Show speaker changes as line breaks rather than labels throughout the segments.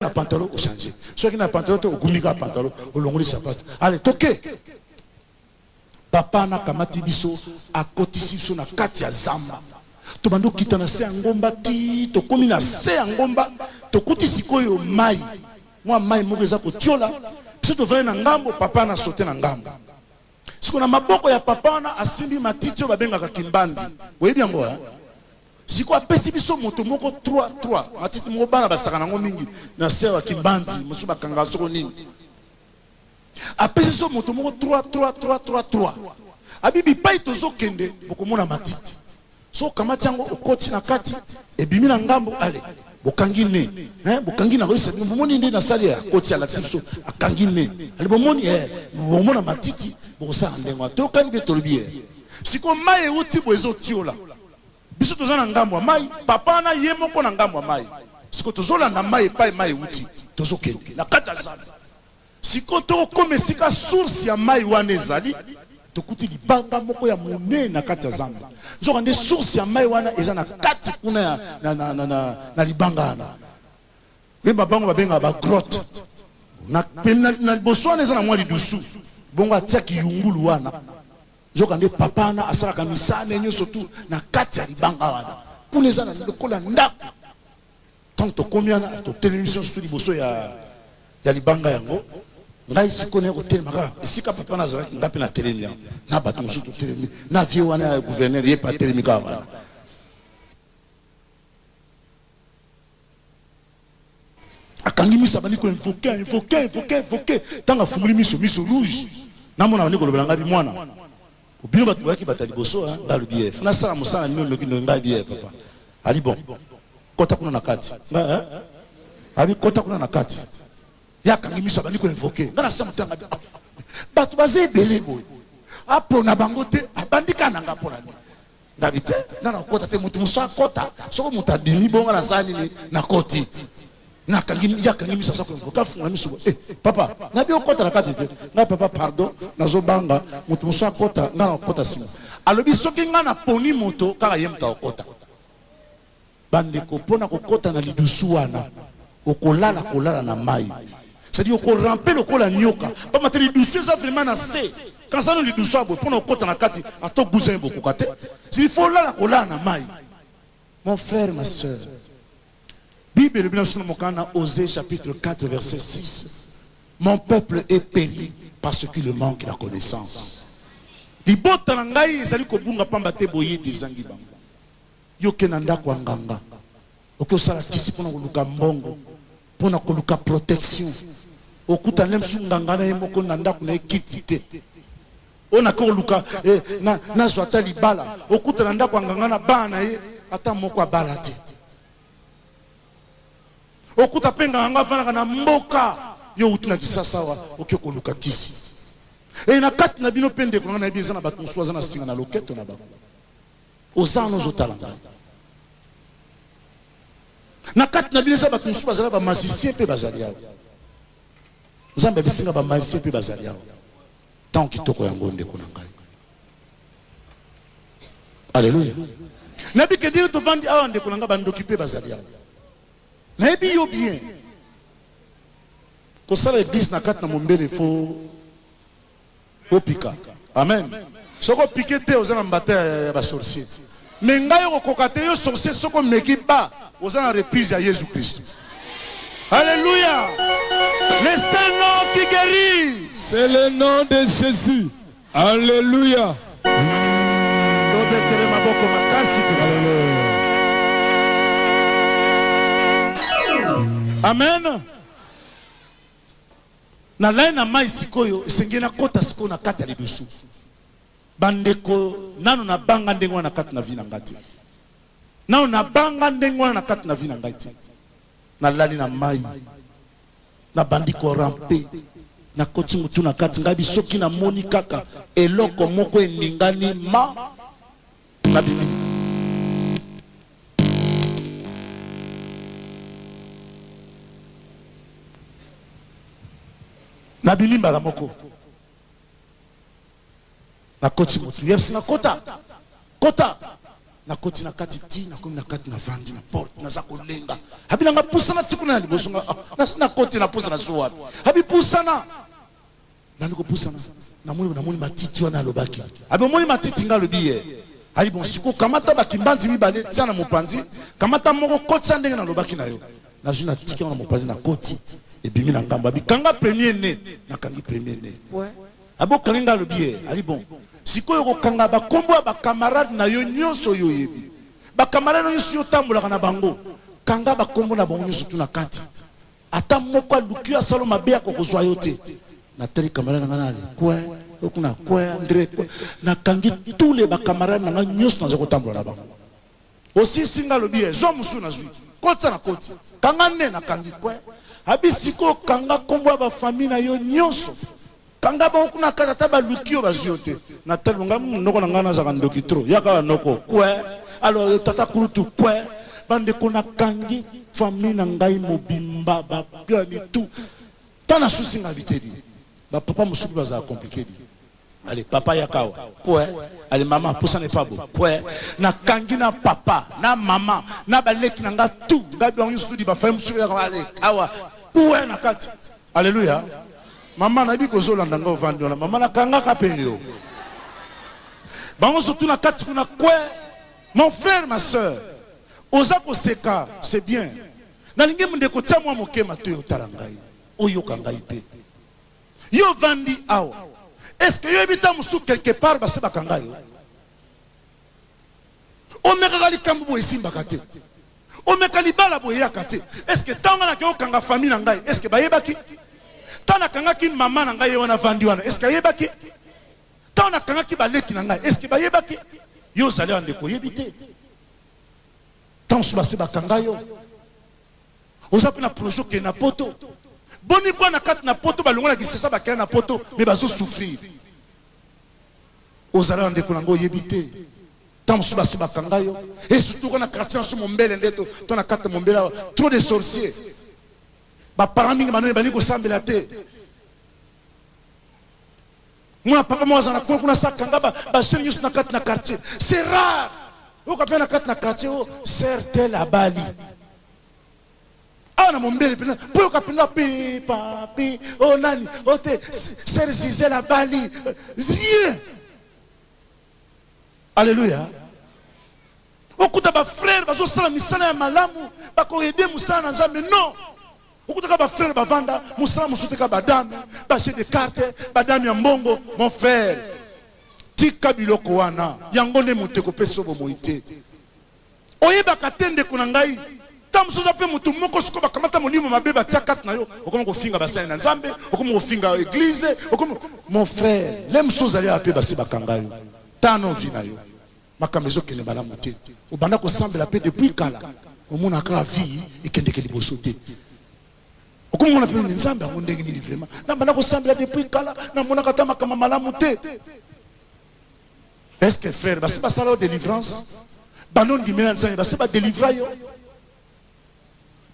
na pantalon o changer soki na pantalon te ogumbi kaka pantalon olongoli sapato ale toke papa anakamati biso akotisi biso na kati ya zamba tobandi okita na se ya ngomba ti tokomi na se ya ngomba tokuti sikoyo mai mwa mai moko eza kotyola biso tozali na ngambo papa na sote na ngambo Siko na maboko ya papa wana asimbi matiti oyo babengaka kimbanzi boyebi yango hein? siko apesi biso moto moko 3 3 matiti moko bana basaka nango mingi na sere ya kimbanzi mosusu bakanga soko nini apesi biso moto moko 3 3 3 3 3 abi bipai tozokende bokomona matiti Soki okamati yango okoti na kati ebimi na ngambo ale bokangi ne eh, bokangi na koyisa bino bomoni nde nasali ya koti alakisi biso akangi ne ale bomoni eh, bomona matiti bokosala ndenge wana toyokani mpe tolobi ye sikoyo mai euti bo ezotiola biso toza na ngambo ya mai papa wana ye moko na ngambo ya mai sikoyo tozolanda mai epai mai euti tozokende na kati ya zamba Sikoyo to koma esika source ya mayi wana ezali, tokuti libanga moko ya monene na kati ya zamba. Nzoka nde source ya mayi wana eza na kati kuna ya na, na, na, na, na libanga wana. Yemba bango babengaka ba grotte. Na, na, na liboso wana eza na mwa lidusu. Bongo atia kiyungulu wana. Nzoka nde papa wana asalaka misala ne nyonso tu na kati ya libanga wana. Kuna eza na lokola ndako. Tango tokomi wana, totelemi biso nionso liboso ya, ya libanga yango. Ngai sikoyo naye kotelema kaka esika papa nazalaki, ngai mpe natelemi awa na bato mosusu totelemi, na vie wana ya gouverneur ye mpe atelemi kaka wana. akangi miso abandi ko invoke invoke invoke invoke ntango afungoli miso miso rouge namona abandi kolobela ngai mwana Po bino batu boyaki batu ya liboso hein nga lobi eh faut nasala musala nini ndoki ndoki nga lobi eh papa abi bon kota kuna na kati nga eh abi kota kuna na kati ye akangi miso abandi ko invoquer nga nase motanga ah, batu baza ebele boye apona bango te abandi ka nanga pona nini Ngabi te, nga na kota te, mutu musu akota. Soko mutu abimi bonga na sani ni, na koti. Na kangi, ya kangi misa sa kwenye, ka funga misu bo. Eh, papa, ngabi okota na kati te. Nga papa, pardon, na zo banga, mutu musu akota, nga na kota sima. Alobi soki nga na poni moto, kaka ye mutu akota. Bandeko pona kokota na lidusu wana okolala kolala na mayi c'est dire oko rampe lokola nyoka pamba te lidusu eza vraiment na se kanisa no lidusu ya boye pona okota na kati ato guza ye bokoka te c'est il faut olala kolala na mayi mon frère ma soeur bible elobi na biso na mokanda ose chapitre 4 verset 6 mon peuple est péri parce qu'il manque la connaissance libota na ngai ezali kobunga pamba te boyebi ezangi bango Yo ke na ndaku ya nganga oke osala kisi pona koluka mbongo pona koluka protection okuta nde mususu nganga na ye moko na ndaku na ye kiti te oyo nake koluka eh, na, nazwa ata libala okuta na ndaku ya nganga na bana na ye ata moko abala te okuta mpe nganga yango afandaka na mboka yo outi na kisasa awa oke koluka kisi e na kati na bino mpe ndeko nanga nayebi eza na bato mosusu aza na singa na loketo na bango Oza wana ozo tala ngai. Na kati na bino eza bato mosusu bazala ba magicien mpe bazali awa. Nzambe abisi nga ba magicien mpe bazali awa. Ntango kitoko yango ndeko na ngai. Aleluya. Nayebi ke ndenge tovandi awa ndeko na ngai bandoki mpe bazali awa. Nayebi yo bien. Kosala ebisi na kati na mombele fo Bo pika. Amen. Soki o pique te oza na mbata ya ba sorcier. Mais ngai oko koka te yo sorcier soki omeki ba oza na reprise ya Yezu Christu. Alleluia. Le seul nom qui guerit. C'est le nom
de Jesus. Alleluia. Tobetele maboko makasi penza.
Amen. Na laye na mayi sikoyo esengeli na kota sikoyo na kati ya lidusu ba ndeko nanu na banga ndenge wana na kati na vie na nga te nanu na banga ndenge wana na kati na vie na ngai te na lali na mayi na bandi ko rampe na koti mutu na kati ngai bisoki na moni kaka eloko moko eningani ma na bimi Na bimi mbala moko. Na koti motu. Yeps na kota. Kota. Na koti na kati ti na komi na kati na vandi na porte na za kolenga. Abi na nga pusana ti kuna na liboso nga. Ah, na si na koti na pusana zuwa. Abi pusana. Nani ko pusana na moni na moni matiti wana alobaki abi omoni matiti nga alobi ye ayi bon siko kamata ba kimbanzi mibale tia na mopanzi kamata moko kotisa ndenge na lobaki na yo na zui na tiki na mopanzi na koti ebimi na ngambo abi kanga premier ne na kangi premier ne abo kangi nga alobi ye ayi bon sikoyo kokanga ba kombo ya ba camarade na yo nyonso yo yebi ba camarade na yo nyonso yo tambolaka na bango kanga ba kombo na bango nyonso tu na kati Ata moko aluki yo asalo mabe ako kozwa yo te. Na tali camarade na nga na le coin, yo kuna coin, Andre coin. Na kangi tous les ba camarades na nga nyoso naza kotambola na bango. Osilisi nga lobi eh, zwa musu nazwi. Kotisa na koti. Kanga ne na kangi coin. Abi sikoyo kanga kombo ya ba famille na yo nyoso. Kanga bango kuna kaka ata baluki yo bazwi yo te. Natali ngai munoko na ngai nazalaka ndoki trop. Yaka awa noko. Kue. Alors tata kulutu kue. Bandeko nakangi famille na ngai mobimba bakani tout. Tant nasusi ngai bitedi. Ba papa mosusu bazala compliqué dit. Allez, papa yakawa. Kwe. Allez, maman, poussa n'est pas beau. Kwe. Na kangi na papa, na maman, na baleki na nga tout. Nga blanc yusu di ba femme sur allez, kawa. Kwe na kati. Alleluia maman nayebi kozolanda nga ovandi wana maman nakangaka pe yo bango surtout na kati kuna kwe mon frère ma soeur oza koseka c'est bien nalingi ndeko tia mwa moke matoyi otala ngai oyoka ngai pe yo ovandi awa est ce que yo yebi ta mosusu quelque part base bakanga yo Omekaka likambo boye esimbaka te? Omeka libala boye eyaka te? Est ce que tango nga nake kokanga famille na ngai est ce que bayebaki? Tango nakangaki mama na ngai ye wana avandi wana est ce que ayebaki? Tango nakangaki baleki na ngai est ce que bayebaki? Yo ozali awa ndeko oyebi te? Tango mosusu basi bakanga yo oza mpe na projet okende na poto boni kwa na kati na poto balongola kisasa bakenda na poto me bazo souffrir Ozala na ndeko na nga oyebi te Tant mosusu basi bakanga yo Et surtout quand na quartier na biso mombele nde to to na kati mombele awa Trop de sorciers Ba parents mingi banoni balingi kosambela te mwana papa moko azala na kuna kuna sa kanga ba, ba jeune nyonso na kati na quartier c'est rare oyoka mpe na kati na quartier o oh, ser tel abali Awa na mombele mpenza mpo yoka mpenza pe papi o oh, nani o oh, te ser gisele abali rien alleluya okuta bafrere bazosala misala ya malamu bakoede mosala na nzambe non okutaka bafrere bavanda mosala mosusu teka badame baje de carte badame ya mbongo mon frere tika biloko wana yango nde moto ekopesa yo bomoi te Oyebaka te ndeko na ngai, tango mosusu oza pe moto moko sikoyo bakamata molimo mabe batia kati na yo, okomi kofinga basali na Nzambe, okomi kofinga eglise, okomi Mon frère, lelo mosusu ozali awa pe basi bakanga yo, tala nanu vie na yo, makambo ezokende malamu te, obanda kosambela pe depuis kala, omonaka kaka vie ekendeke liboso te, okomi komona pe nini, Nzambe yango ndenge nini vraiment, nabanda kosambela depuis kala, namonaka ata makambo ya malamu te. Est ce que frère basi basala yo delivrance bando ndimela nzambe basi badelivra yo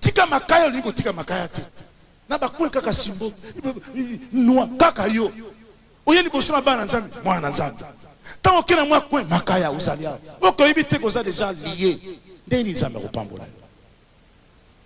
tika makaya olingi kotika makaya te na bakue kaka simbo nwa kaka yo oye liboso na bana nzambe mwana na nzambe ntango oke na mwa kue makaya ozali awa okoyebi te koza deja lie ndenge nini nzambe akopambola yo